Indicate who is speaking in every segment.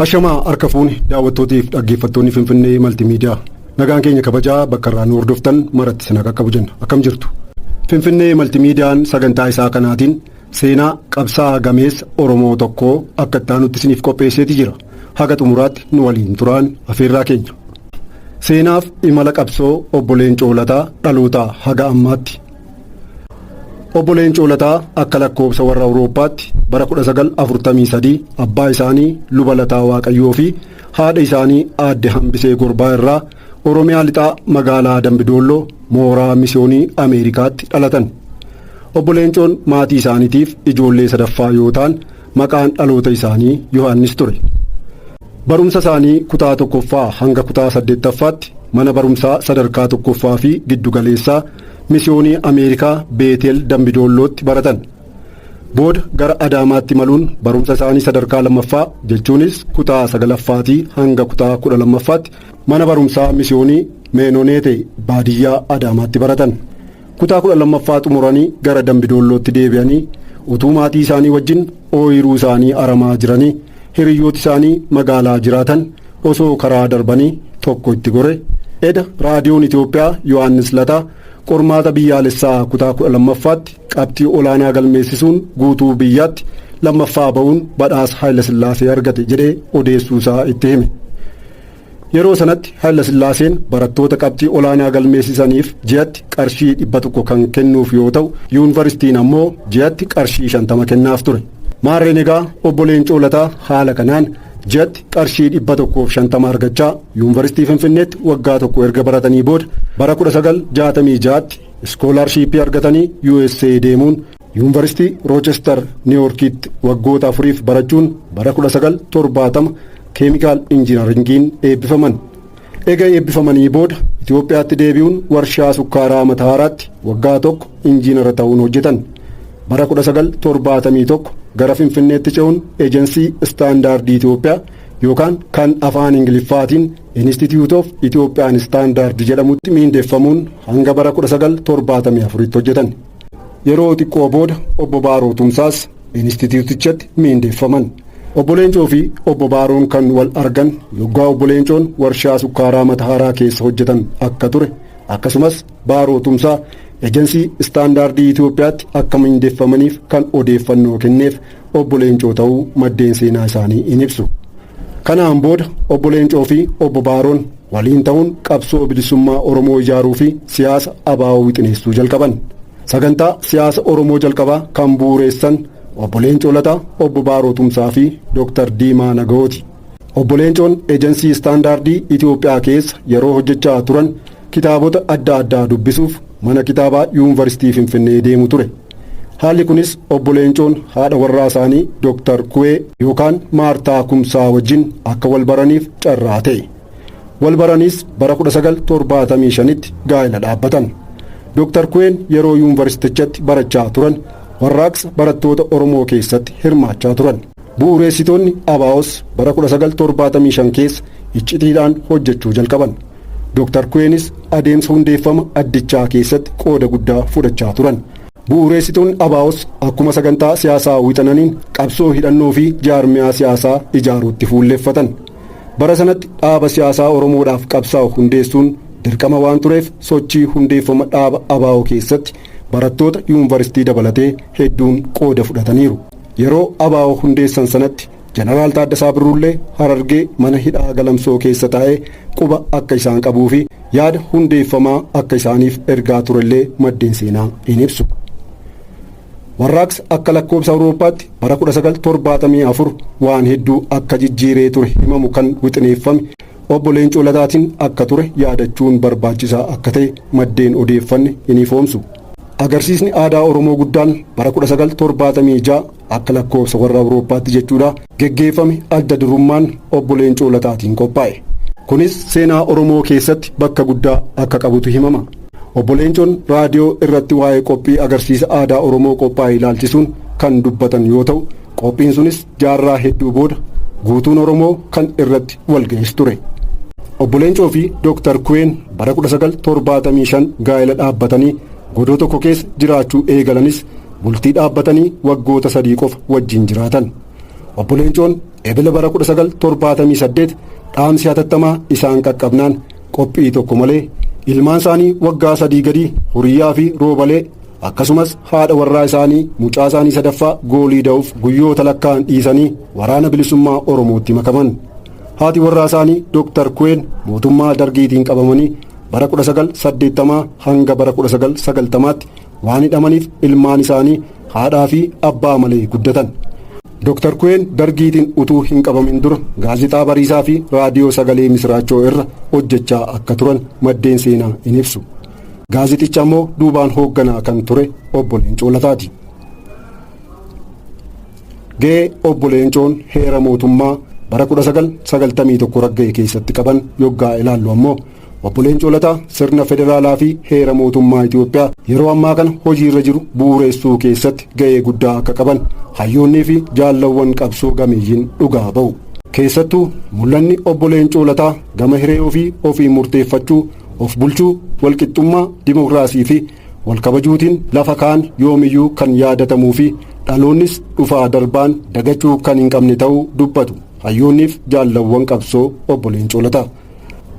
Speaker 1: Ashamaa harka fuune daawwattootiif dhaggeeffattoonni Finfinnee Maltiimiidiyaa. Nagaan keenya kabajaa bakka irraa nu hordoftan maratti isin qaqqabu jenna. Akkam jirtu? Finfinnee Maltiimiidiyaan sagantaa isaa kanaatiin seenaa qabsaa'aa gameessa Oromoo tokkoo akka itti aanutti isiniif qopheesseeti jira. Haga xumuraatti nu waliin turaan afeerraa keenya. Seenaaf imala qabsoo obbo Leencoo Lataa dhalootaa haga ammaatti Obbo Leencoo Lataa akka lakkoobsa warra Awurooppaatti bara 1943 abbaa isaanii luba Lataa Waaqayyoo fi haadha isaanii aadde Hambisee Gorbaa irraa Oromiyaa lixaa magaalaa Dambidoolloo mooraa misiyoonii Ameerikaatti dhalatan. Obbo Leencoon maatii isaaniitiif ijoollee sadaffaa yoo ta'an maqaan dhaloota isaanii Yohaannis ture. Barumsa isaanii kutaa tokkoffaa hanga kutaa saddeettaffaatti mana barumsaa sadarkaa tokkoffaa fi giddugaleessaa Misiyoonii Ameerikaa Beetel Dambidoollootti baratan. Booda gara Adaamaatti imaluun barumsa isaanii sadarkaa lammaffaa jechuunis kutaa sagalaffaatii hanga kutaa kudha lammaffaatti mana barumsaa misiyoonii Meenoneete baadiyyaa Adaamaatti baratan. Kutaa kudha lammaffaa xumuranii gara Dambidoollootti deebi'anii utuu maatii isaanii wajjin ooyiruu isaanii aramaa jiranii hiriyyooti isaanii magaalaa jiraatan osoo karaa darbanii tokko itti gore. Eda Raadiyoon Itoophiyaa Yohaannis Lataa qormaata biyyaalessaa kutaa 12ffaatti qabxii olaanaa galmeessisuun guutuu biyyaatti lammaffaa ba'uun badhaasa Haayilasillaasee argate jedhee odeessuu isaa itti hime. Yeroo sanatti Hayilasillaaseen barattoota qabxii olaanaa galmeessisaniif ji'atti qarshii 100 kan kennuuf yoo ta'u, yuunvaristiin ammoo ji'atti qarshii 50 kennaaf ture. Maarreen egaa Obbo Leencoo Lataa haala kanaan ji'atti qarshii 150 argachaa Yuunvaristii Finfinneetti waggaa tokko erga baratanii booda bara 1966tti iskoolaarshiippii argatanii USA deemuun Yuunvaristii Roochestar Niiwoorkiitti waggoota afuriif barachuun bara 1970 Keemikaal Injinaringiin eebbifaman. Ega eebbifamanii booda Itoophiyaatti deebi'uun warshaa sukkaaraa Matahaaraatti waggaa tokko injiinara ta'uun hojjetan. Bara 1971 gara Finfinneetti ce'uun Ejensii Istaandaardii Itoophiyaa yookaan kan afaan Ingiliffaatiin Institute of Ethiopian Standard jedhamutti miindeffamuun hanga bara 1974tti hojjetan. Yeroo xiqqoo booda obbo Baaroo Tumsaas Inistiitiyuutichatti miindeeffaman. Obbo Leencoo fi obbo Baaroon kan wal argan yoggaa obbo Leencoon warshaa sukkaaraa Matahaaraa keessa hojjetan akka ture akkasumas Baaroo Tumsaa Ejensii Istaandaardii Itoophiyaatti akka miindeffamaniif kan odeeffannoo kenneef Obbo Leencoo ta'uu maddeen seenaa isaanii in ibsu. Kanaan booda Obbo Leencoo fi Obbo Baaroon waliin ta'uun qabsoo bilisummaa Oromoo ijaaruu fi siyaasa abaa'oo wixineessuu jalqaban. Sagantaa siyaasa Oromoo jalqabaa kan bu'uureessan Obbo Leencoo Lataa, Obbo Baaroo Tumsaa fi Dooktar Diimaa Nagawooti. Obbo Leencoon ejansii istaandaardii Itoophiyaa keessa yeroo hojjechaa turan kitaabota adda addaa dubbisuuf mana kitaabaa Yuunvarsiitii Finfinnee deemu ture. Haalli kunis Obbo Leencoon haadha warraa isaanii Doktar Kuwee yookaan Maartaa Kumsaa wajjin akka wal baraniif carraa ta'e. Wal baraniis bara 1975tti gaa'ela dhaabbatan. Doktar Kuween yeroo yuunvarsiitichatti barachaa turan warraaqsa barattoota Oromoo keessatti hirmaachaa turan. Bu'uureessitoonni ABOs bara 1975 keessa iccitiidhaan hojjechuu jalqaban. Dooktar Kuweenis adeemsa hundeeffama addichaa keessatti qooda guddaa fudhachaa turan. Bu'uureessituun ABOs akkuma sagantaa siyaasaa wixananiin qabsoo hidhannoo fi jaarmiyaa siyaasaa ijaaruutti fuulleffatan. Bara sanatti dhaaba siyaasaa Oromoodhaaf qabsaa'u hundeessuun dirqama waan tureef sochii hundeeffama dhaaba ABO keessatti barattoota yuunvaristii dabalatee hedduun qooda fudhataniiru. Yeroo ABO hundeessan sanatti Jeneraal Taaddasaa Birruullee Harargee mana hidhaa Galamsoo keessa taa'ee quba akka isaan qabuu fi yaada hundeeffamaa akka isaaniif ergaa turellee maddeen seenaa in ibsu. Warraaqsa akka lakkoobsa Awurooppaatti bara 1974 waan hedduu akka jijjiiree ture himamu kan wixineeffame obbo Leencoo Lataatiin akka ture yaadachuun barbaachisaa akka ta'e maddeen odeeffanne in ifoomsu. Agarsiisni aadaa Oromoo guddaan bara 1976 akka lakkoofsa warra Awurooppaatti jechuudha geggeeffame adda durummaan obbo Leencoo Lataatiin qophaa'e. Kunis seenaa Oromoo keessatti bakka guddaa akka qabutu himama. Obbo Leencoon raadiyoo irratti waa'ee qophii agarsiisa aadaa Oromoo qophaa'e ilaalchisuun kan dubbatan yoo ta'u, qophiin sunis jaarraa hedduu booda guutuun Oromoo kan irratti walga'es ture. Obbo Leencoo fi Dooktar Kuween bara 1975 gaa'ela dhaabbatanii godoo tokko keessa jiraachuu eegalanis Bultii dhaabbatanii waggoota sadii qofa wajjin jiraatan. Obbo Leencoon Ebila bara 1978 dhaamsi hatattamaa isaan qaqqabnaan qophii tokko malee ilmaan isaanii waggaa sadii gadii Huriyyaa fi Roobalee akkasumas haadha warraa isaanii mucaa isaanii sadaffaa goolii da'uuf guyyoota lakkaa'an dhiisanii waraana bilisummaa Oromootti makaman. Haati warraa isaanii Dooktar Kuween mootummaa Dargiitiin qabamanii bara 1980 hanga bara 1990tti Waan hidhamaniif ilmaan isaanii haadhaa fi abbaa malee guddatan. Dr. Kuween dargiitiin utuu hin qabamin dura gaazexaa Bariisaa fi raadiyoo sagalee misiraachoo irra hojjechaa akka turan maddeen seenaa in ibsu. Gaazexicha ammoo duubaan hoogganaa kan ture obbo Leencoo Lataati. Ga'ee obbo Leencoon heera mootummaa bara 1991 ragga'e keessatti qaban yoggaa ilaallu ammoo Obbo Leencoo Lataa sirna federaalaa fi heera mootummaa Itoophiyaa yeroo ammaa kana hojiirra jiru bu'uureessuu keessatti ga'ee guddaa akka qaban hayyoonnii fi jaallawwan qabsoo gameeyyiin dhugaa ba'u. Keessattuu mul'anni obbo Leencoo Lataa gama hiree ofii ofiin murteeffachuu, of bulchuu, walqixxummaa, dimokiraasii fi walkabajuutiin lafa kaan yoomiyyuu kan yaadatamuu fi dhaloonnis dhufaa darbaan dagachuu kan hin qabne ta'uu dubbatu hayyoonniif jaallawwan qabsoo obbo Leencoo Lataa.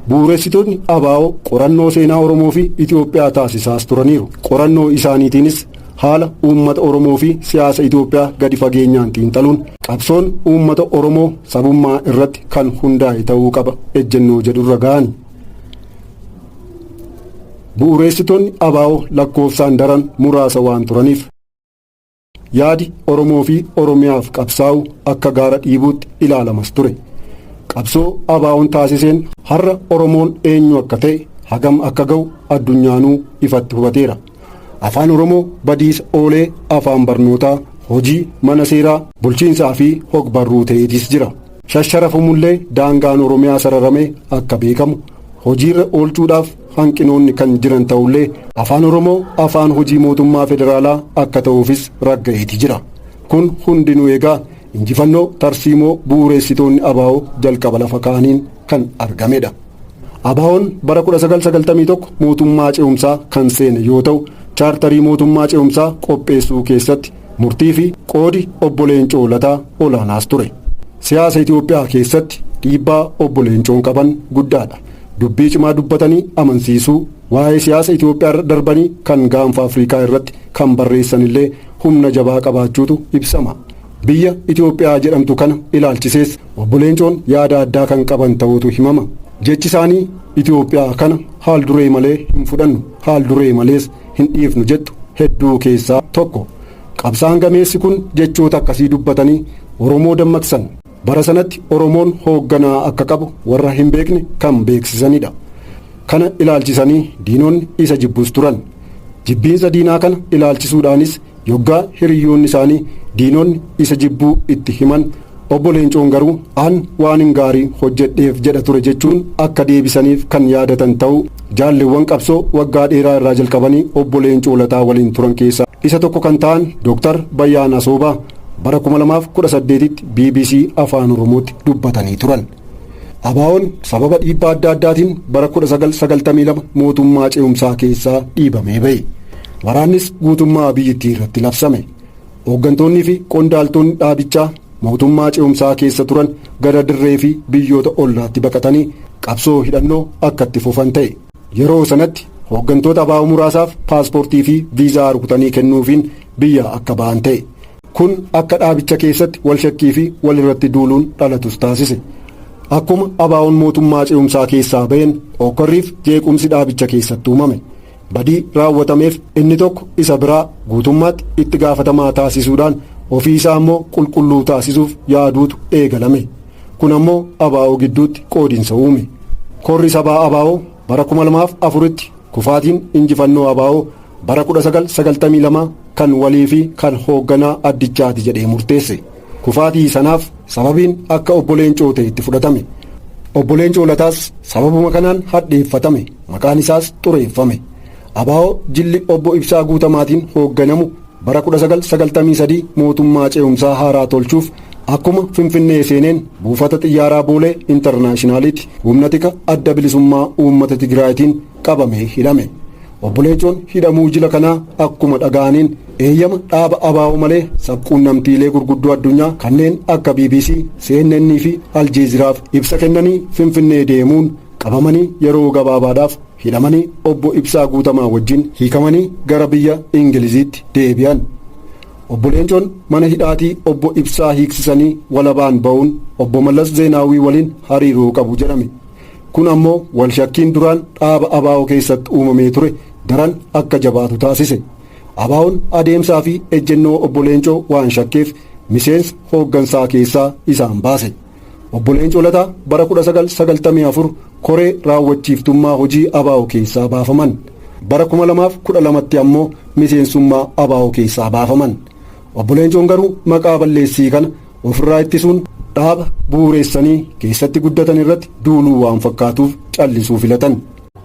Speaker 1: Bu'uuressitootni ABO qorannoo seenaa Oromoo fi Itoophiyaa taasisaas turaniiru. Qorannoo isaaniitiinis haala uummata Oromoo fi siyaasa Itoophiyaa gadi fageenyaan xiinxaluun qabsoon uummata Oromoo sabummaa irratti kan hundaa'e ta'uu qaba ejjennoo jedhurra ga'ani. Bu'uureessitoonni ABO lakkoofsaan daran muraasa waan turaniif. Yaadi Oromoo fi Oromiyaaf qabsaa'u akka gaara dhiibuutti ilaalamas ture. Qabsoo ABOn taasiseen har'a Oromoon eenyu akka ta'e, hagam akka ga'u addunyaanuu ifatti hubateera. Afaan Oromoo badiisa oolee afaan barnootaa, hojii, mana seeraa, bulchiinsaa fi hogbarruu ta'eetiis jira. Shasharafamullee daangaan Oromiyaa sararamee akka beekamu, hojiirra oolchuudhaaf hanqinoonni kan jiran ta'ullee afaan oromoo afaan hojii mootummaa federaalaa akka ta'uufis ragga'eeti jira kun hundinuu egaa injifannoo tarsiimoo bu'uureessitoonni abaa'oo jalqaba lafa ka'aniin kan argamedha abaa'oon bara 1991 mootummaa ce'umsaa kan seene yoo ta'u chaartarii mootummaa ce'umsaa qopheessuu keessatti Murtii fi qoodi Obbo Leencoo Lataa olaanaas ture. Siyaasa Itoophiyaa keessatti dhiibbaa Obbo Leencoon qaban guddaadha. Dubbii cimaa dubbatanii amansiisuu, waa'ee siyaasa Itoophiyaarra darbanii kan Gaanfa Afrikaa irratti kan barreessanillee humna jabaa qabaachuutu ibsama. Biyya Itoophiyaa jedhamtu kana ilaalchisees Obbo Leencoon yaada addaa kan qaban ta'uutu himama. Jechisaanii Itoophiyaa kana haal-duree malee hin fudhannu, haal-duree malees hin dhiifnu jettu hedduu keessaa tokko. Qabsaan gameessi kun jechoota akkasii dubbatanii Oromoo dammaqsan. Bara sanatti Oromoon hoogganaa akka qabu warra hin beekne kan beeksisanidha. Kana ilaalchisanii diinonni isa jibbus turan. Jibbiinsa diinaa kana ilaalchisuudhaanis Yoggaa hiriyyoonni isaanii, diinonni, isa jibbuu itti himan, Obbo Leencoon garuu an waanin gaarii hojjedheef jedha ture jechuun akka deebisaniif kan yaadatan ta'uu jaalleewwan qabsoo waggaa dheeraa irraa jalqabanii Obbo Leencoo Lataa waliin turan keessaa isa tokko kan ta'an Dr. Bayyaan Asoobaa bara 2018tti bbc Afaan Oromootti dubbatanii turan. ABOn sababa dhiibbaa adda addaatiin bara 1992 mootummaa ce'umsaa keessaa dhiibamee ba'e. Waraannis guutummaa biyyittii irratti labsame. Hooggantoonnii fi qondaaltonni dhaabichaa mootummaa ce'umsaa keessa turan gara dirree fi biyyoota ollaatti baqatanii qabsoo hidhannoo akka itti fufan ta'e. Yeroo sanatti hooggantoota ABO muraasaaf paaspoortii fi viizaa rukutanii kennuufiin biyyaa akka ba'an ta'e. Kun akka dhaabicha keessatti wal shakkii fi wal irratti duuluun dhalatus taasise. Akkuma ABOn mootummaa ce'umsaa keessaa ba'een hookkarriif jeequmsi dhaabicha keessatti uumame. Badii raawwatameef inni tokko isa biraa guutummaatti itti gaafatamaa taasisuudhaan ofii isaa immoo qulqulluu taasisuuf yaaduutu eegalame. Kun ammoo ABO gidduutti qoodinsa uume. Korri sabaa ABO bara 2004tti kufaatiin injifannoo ABO Bara 1992 kan walii fi kan hoogganaa addichaati jedhee murteesse. Kufaatii sanaaf sababiin akka obbo Leencoo ta'e itti fudhatame. Obbo Leencoo Lataas sababuma kanaan hadheeffatame. Maqaan isaas xureeffame. Abaa'oo jilli obbo Ibsaa Guutamaatiin hoogganamu bara 1993 mootummaa ce'umsaa haaraa tolchuuf akkuma Finfinnee seeneen buufata xiyyaaraa Boolee Intarnaashinaaliitti humna tika adda bilisummaa uummata Tigraayitiin qabamee hidhame. Obbo Leencoon hidhamuu jila kanaa akkuma dhaga'aniin eeyyama dhaaba abaa'oo malee sabquunnamtiilee gurguddoo addunyaa kanneen akka BBC, CNN fi Aljeeziraaf ibsa kennanii Finfinnee deemuun qabamanii yeroo gabaabaadhaaf hidhamanii obbo Ibsaa Guutamaa wajjin hiikamanii gara biyya Ingiliziitti deebi'an. Obbo Leencoon mana hidhaatii obbo Ibsaa hiiksisanii walabaan ba'uun obbo Mallas Zeenaawwii waliin hariiroo qabu jedhame. Kun ammoo walshakkiin duraan dhaaba abo keessatti uumamee ture daran akka jabaatu taasise. ABOn adeemsaa fi ejjennoo Obbo Leencoo waan shakkeef miseensa hooggansaa keessaa isaan baase. Obbo Leencoo Lataa bara 1994 koree raawwachiiftummaa hojii abo keessaa baafaman. Bara 2012tti ammoo miseensummaa abo keessaa baafaman. Obbo Leencoon garuu maqaa balleessii kana Ofirraa ittisuun dhaaba bu'uureessanii keessatti guddatan irratti duuluu waan fakkaatuuf callisuu filatan.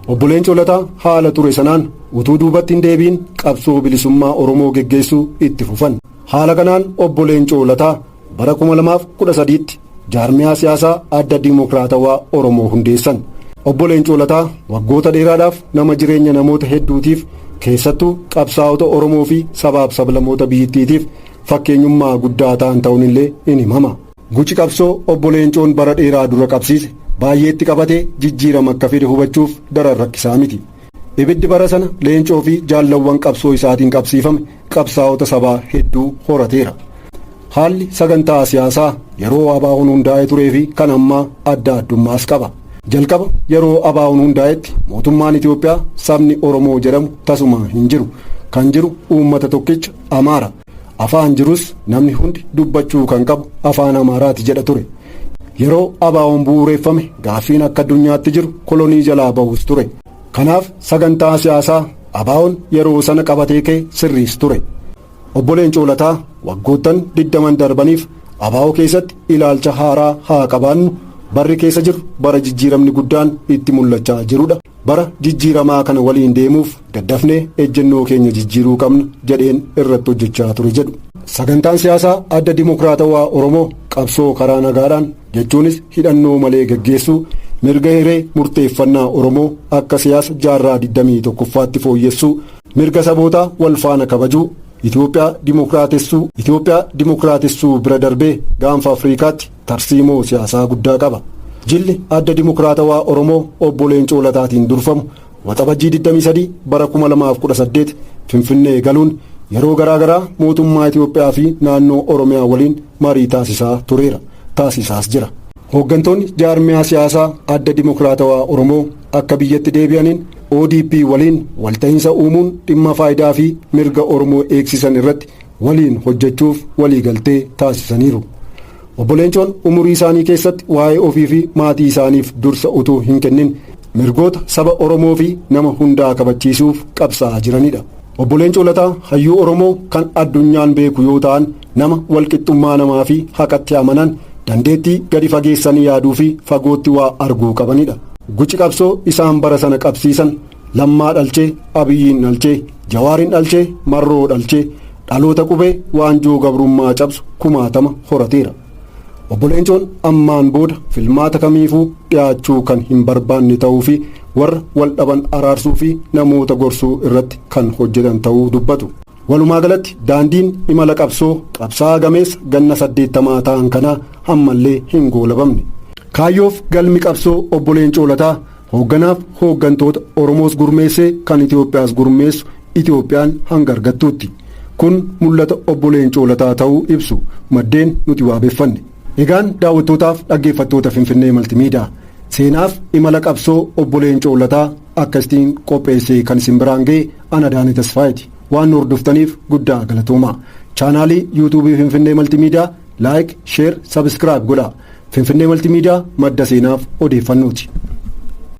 Speaker 1: Obbo Leencoo Lataa haala ture sanaan utuu duubatti hin deebiin qabsoo bilisummaa Oromoo geggeessuu itti fufan. Haala kanaan Obbo Leencoo Lataa bara 2013tti jaarmiyaa siyaasaa adda Dimookiraatawaa Oromoo hundeessan. Obbo Leencoo Lataa waggoota dheeraadhaaf nama jireenya namoota hedduutiif keessattuu qabsaa'ota Oromoo fi sabaaf sablamoota biyyittiitiif fakkeenyummaa guddaa ta'an ta'uun illee in himama. Guci qabsoo obbo Leencoon bara dheeraa dura qabsiise baay'eetti qabate jijjiirama akka fide hubachuuf daran rakkisaa miti. Ibiddi bara sana Leencoo fi jaallawwan qabsoo isaatiin qabsiifame qabsaa'ota sabaa hedduu horateera. Haalli sagantaa siyaasaa yeroo Abaawoon hundaa'ee turee fi kan ammaa adda addummaas qaba. Jalqaba yeroo Abaawoon hundaa'etti mootummaan Itoophiyaa sabni Oromoo jedhamu tasuma hin jiru. Kan jiru uummata tokkicha Amaara. Afaan jirus namni hundi dubbachuu kan qabu afaan Amaaraati jedha ture. Yeroo ABOn bu'uureeffame gaaffiin akka addunyaatti jiru kolonii jalaa bahus ture. Kanaaf sagantaa siyaasaa ABOn yeroo sana qabatee ka'e sirriis ture. Obbo Leencoo Lataa waggoottan 20n darbaniif abo keessatti ilaalcha haaraa haa qabaannu, barri keessa jirru bara jijjiiramni guddaan itti mul'achaa jirudha. Bara jijjiiramaa kana waliin deemuuf daddafnee ejjennoo keenya jijjiiruu qabna jedheen irratti hojjechaa ture jedhu. Sagantaan siyaasaa Adda Dimokiraatawaa Oromoo qabsoo karaa nagaadhaan jechuunis hidhannoo malee gaggeessuu, mirga hiree murteeffannaa Oromoo akka siyaasa jaarraa 21ffaatti fooyyessuu, mirga sabootaa wal faana kabajuu, Itoophiyaa dimokiraatessuu, Itoophiyaa dimokiraatessuu bira darbee gaanfa Afriikaatti tarsiimoo siyaasaa guddaa qaba. Jilli Adda Dimokiraatawaa Oromoo Obbo Leencoo Lataatiin durfamu Waxabajjii 23 bara 2018 Finfinnee galuun yeroo garaa garaa mootummaa Itoophiyaa fi naannoo Oromiyaa waliin marii taasisaa tureera. Taasisaas jira. Hooggantoonni jaarmiyaa siyaasaa Adda Dimokiraatawaa Oromoo akka biyyatti deebi'aniin ODP waliin walta'iinsa uumuun dhimma faayidaa fi mirga Oromoo eegsisan irratti waliin hojjechuuf waliigaltee taasisaniiru. Obbo Leencoon umurii isaanii keessatti waa'ee ofii fi maatii isaaniif dursa utuu hin kennin mirgoota saba Oromoo fi nama hundaa kabachiisuuf qabsaa'aa jiranidha. Obbo Leencoo Lataa hayyuu Oromoo kan addunyaan beeku yoo ta'an nama walqixxummaa namaa fi haqatti amanan dandeettii gadi fageessanii yaaduu fi fagootti waa arguu qabanidha. Guci qabsoo isaan bara sana qabsiisan Lammaa dhalche, Abiyyiin dhalche, Jawaarin dhalche, Marroo dhalche, dhaloota qubee waanjoo gabrummaa cabsu kumaatama horateera. Obbo Leencoon ammaan booda filmaata kamiifuu dhiyaachuu kan hin barbaanne ta'uu fi warra wal dhaban araarsuu fi namoota gorsuu irratti kan hojjetan ta'uu dubbatu. Walumaa galatti daandiin imala qabsoo qabsaa'aa gameessa ganna saddeettamaa ta'an kanaa ammallee hin goolabamne. Kaayyoof galmi qabsoo Obbo Leencoo Lataa Hoogganaaf hooggantoota Oromoos gurmeessee kan Itoophiyaas gurmeessu Itoophiyaan hanga argattuutti. Kun mul'ata obbo Leencoo Lataa ta'uu ibsu maddeen nuti waabeffanne. Egaan daawwattootaaf dhaggeeffattoota Finfinnee Maltimiidaa seenaaf imala qabsoo obbo Leencoo Lataa akkasitiin qopheessee kan isin biraan ga'e ana Daanii Tasfaayiti. Waan nu hordoftaniif guddaa galatoomaa. Chaanaalii yuutuubii Finfinnee Maltimiidaa Like, Share, Subscribe godhaa. Finfinnee Multimedia madda seenaaf odeeffannooti.